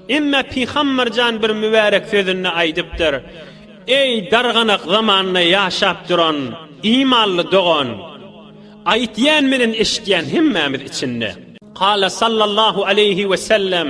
Emme Pygamberjan bir mübärek sözünde aýdypdyr. Eý darganak zamanynda ýaşap duran imanly dogan, aýtýan bilen eşitýän hemmämiz içinde. Kala sallallahu aleyhi ve sellem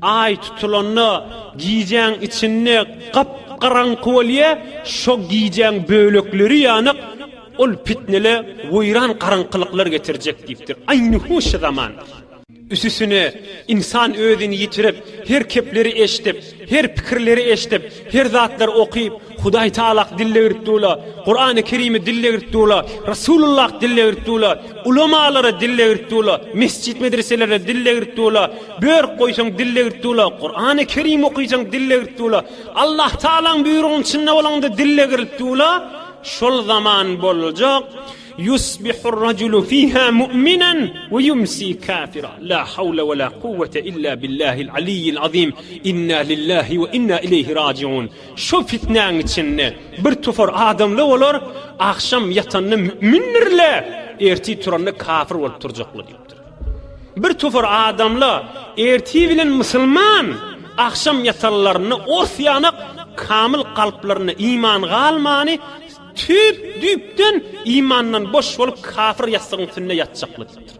Aý tutulanda gijäň içinde gap-garaňky bolýar, şo gijäň bölekleri ýanyk, ol pitnele weýran garaňkylyklar getirjek diýipdir. Aýnhuşy zaman. Üsüsine, ynsan özüni ýitirip, her kepleri eşdip, her pikirleri eşdip, her zatlary okyp, Hudaý Taalak dille girip durla, Kurany Kerimi dille girip durla, Rasulullah dille girip durla, ulamalara dille girip durla, mesjit medreselere dille girip durla, börk goýsaň dille girip durla, Kurany Kerim okysaň dille girip durla, Allah Taalaň buýrugynyň içinde bolaňda dille girip durla, şol zaman boljak, Yusbihur rajulu fiha mu'minan we yumsi kafira. La hawla we la kuwwete illa billahil aliyyil azim. Inna lillahi we inna ileyhi raciun. Şo pitnäň içinde bir topar adamlar bolar, agşam ýatanda mümindirler, ertir turanda kafir bolup turjaklar diýipdir. Bir topar adamlar ertir bilen musulman, agşam ýatanlarynda ors ýanak kamyl kalplarynda iman galmany, tüp düpden imandan boş bolup kafir ýassygyň üstünde ýatjaklar diýipdir.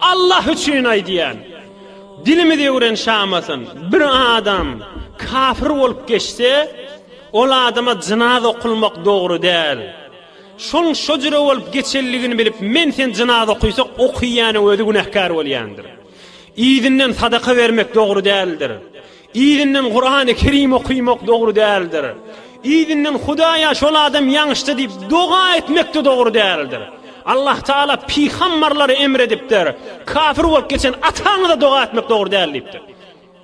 Allah üçin aýdýan. Dilimiz öwren şamasyn. Bir adam kafir bolup geçse, ol adama jynaz okulmak dogry däl. Şoň şo jüre bolup geçenligini bilip men sen jynaz okuysak okuýanyň özi günähkär bolýandyr. Yzynden sadaka bermek dogry däldir. Yzyndan Kurany Kerim okymak dogry däldir. Yzyndan Hudaýa şol adam ýaňyşdy diýip doga etmekde dogry däldir. Allah Taala pygambarlary emr edipdir. Kafir bolup geçen ataňyza doga etmek dogry däl diýipdir.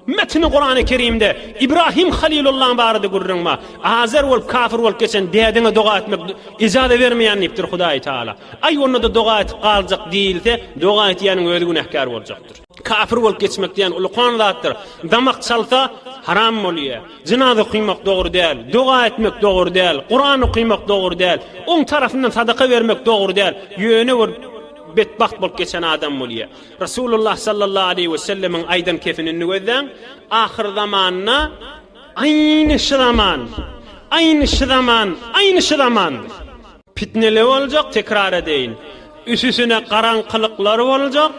Metni Kurany Kerimde Ibrahim Halilullahyň barada gürrüň bar. Azer bolup kafir bolup geçen dädene doga etmek ijazat bermeýän diýipdir Hudaý Taala. Aý onda-da doga edip galjak diýilse, doga etýäniň özi günähkär boljakdyr. Kapyr bolup geçmek diýen ulukan zatdyr. Damak çalsa, haram bolýar. Jynaza okymak dogry däl, doga etmek dogry däl, Kuran okymak dogry däl, oň tarapyndan sadaka bermek dogry däl, ýöne bir betbagt bolup geçen adam bolýar. Resulullah sallallahu aleýhi we sellemiň aýdan kefinini gözläň, Ahyr zamanda aýny şu zaman, aýny şu zaman, aýny şu zamandyr. Pitneler boljak, tekrar edeýin. Üsüsine garaňkylyklar boljak,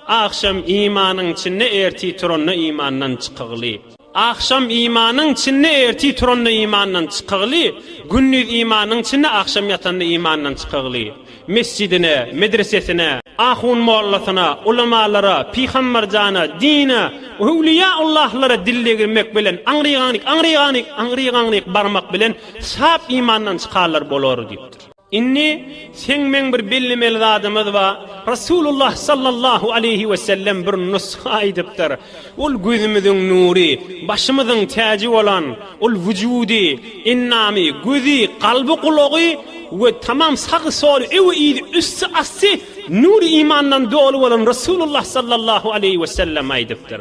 Agşam imanyň içinde erti turanda imandan çykygly. Agşam imanyň içinde erti turanda imandan çykygly, gündiz imanyň içinde agşam ýatanda imandan çykygly. Mesjidine, medresesine, ahun mollasyna, ulamalara, pyhambir jana, dine, öwliýa Allahlara dil degirmek bilen aňrygaňryk, aňrygaňryk, aňrygaňryk barmak bilen sap imandan çykarlar bolar diýipdir. Indi seň meň bir bellemeli zadymyz bar, Resulullah sallallahu aleýhi wesellem bir nusga aýdypdyr, Ol gözümiziň nury, başymyzyň täji bolan, ol wujudy, endamy, gözi, kalby, gulagy we tamam sagy-soly, öwi-yzy, üsti-asty nury imandan doly bolan Resulullah sallallahu aleýhi wesellem aýdypdyr.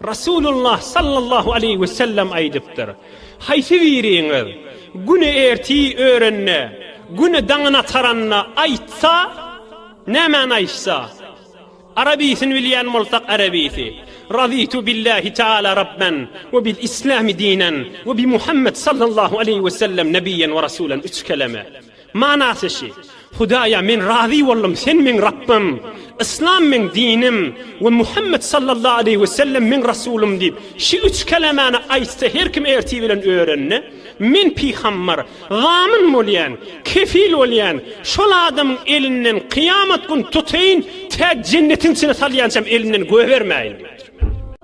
Resulullah sallallahu aleýhi we sellem aýdypdyr, Haýsy biriňiz güni ertir örende, güni daňyny ataranda aýtsa, nämäni aýtsa, arabysyn bilýän bolsak arabysy, Razitu billahi taala rabben we bil islami dinen we bi Muhammed sallallahu aleýhi we sellem nebiyyen we rasulen üç keleme. Manasy şi, Hudaýa men razy boldum, Sen meň Rabbym, Yslam meň dinim we Muhammet sallallahu aleýhi we sellem meň Rasulym diýip, şi üç kelemäni aýtsa her kim ertir bilen örende, men pygambar, zamin bolýan, kefil bolýan, şol adamyň elinden kyýamat gün tutaýyn, tä jennetiň içine salýançam elinden goýbermäýin diýipdir.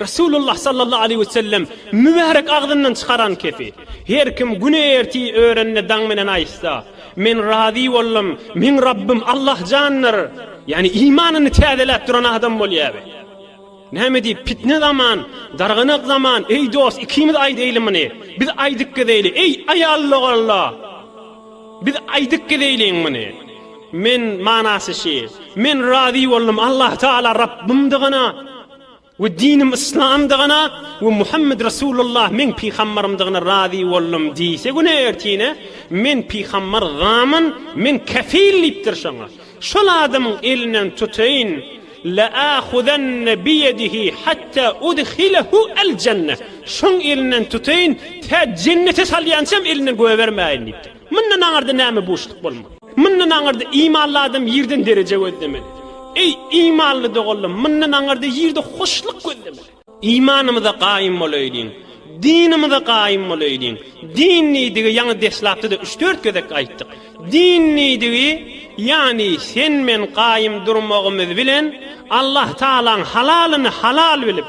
Resulullah sallallahu aleýhi we sellem mübärek agzyndan çykaran kepi, Her kim güne-erti örende daň bilen aýtsa, Men razy boldum, meň Rabbym Allah jandyr! Ýagny imanyny täzeläp duran adam bolýaby. Näme diýip, pitne zaman, darganak zaman, Eý dost, ikimiz aýdaýly muny, biz aýdyp gezeýli, eý, aýal logalla! Biz aýdyp gezeýliň muny. Men, manasy şi, Men razy boldum, Allah Tagala Rabbymdygyna! we dinim yslamdygyna we Muhammet Resulullah meň pygambarymdygyna razy boldum diýse güne ertine men pygambar gamyn men kefil diýipdir şoňa şol adamyň elinden tutaýyn Leahuzanne biyedihi hatta udhilehu el jenne şoň elinden tutaýyn tä jennete salýançam elinden göbermäýin diýipdir. Mundan aňyrda näme buşluk bolmaly? Mundan aňyrda imanly adam ýerden dereje gözlemeli. Eý, imanly doganlarym, mundan aňyrda ýerde hoşluk gözlemeli. Imanymyza gaýym bolaýlyň, dinimize gaýym bolaýlyň. Din diýdigi ýaňy deslapda-da üç-dört gezek aýtdyk. Din diýdigi, ýagny sen-men gaýym durmagymyz bilen Allahtagalaň halalyny halal bilip,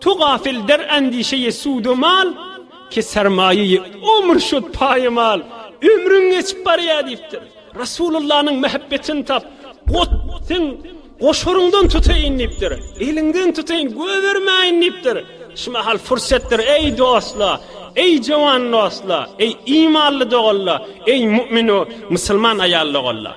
Tu gafil der andişeyi sudu mal, ki sermayeyi ömür şud paýmal, ömrüň geçip barýar diýipdir. Rasulullanyň mähebbetini tap, ot, sen goşaryňdan tutaýyn diýipdir. Eliňden tutaýyn, gögermäýin diýipdir. Şu mahal pursatdyr, eý dostlar, eý jowan dostlar, eý imanly doganlar, eý mu'minu, musulman aýal doganlar!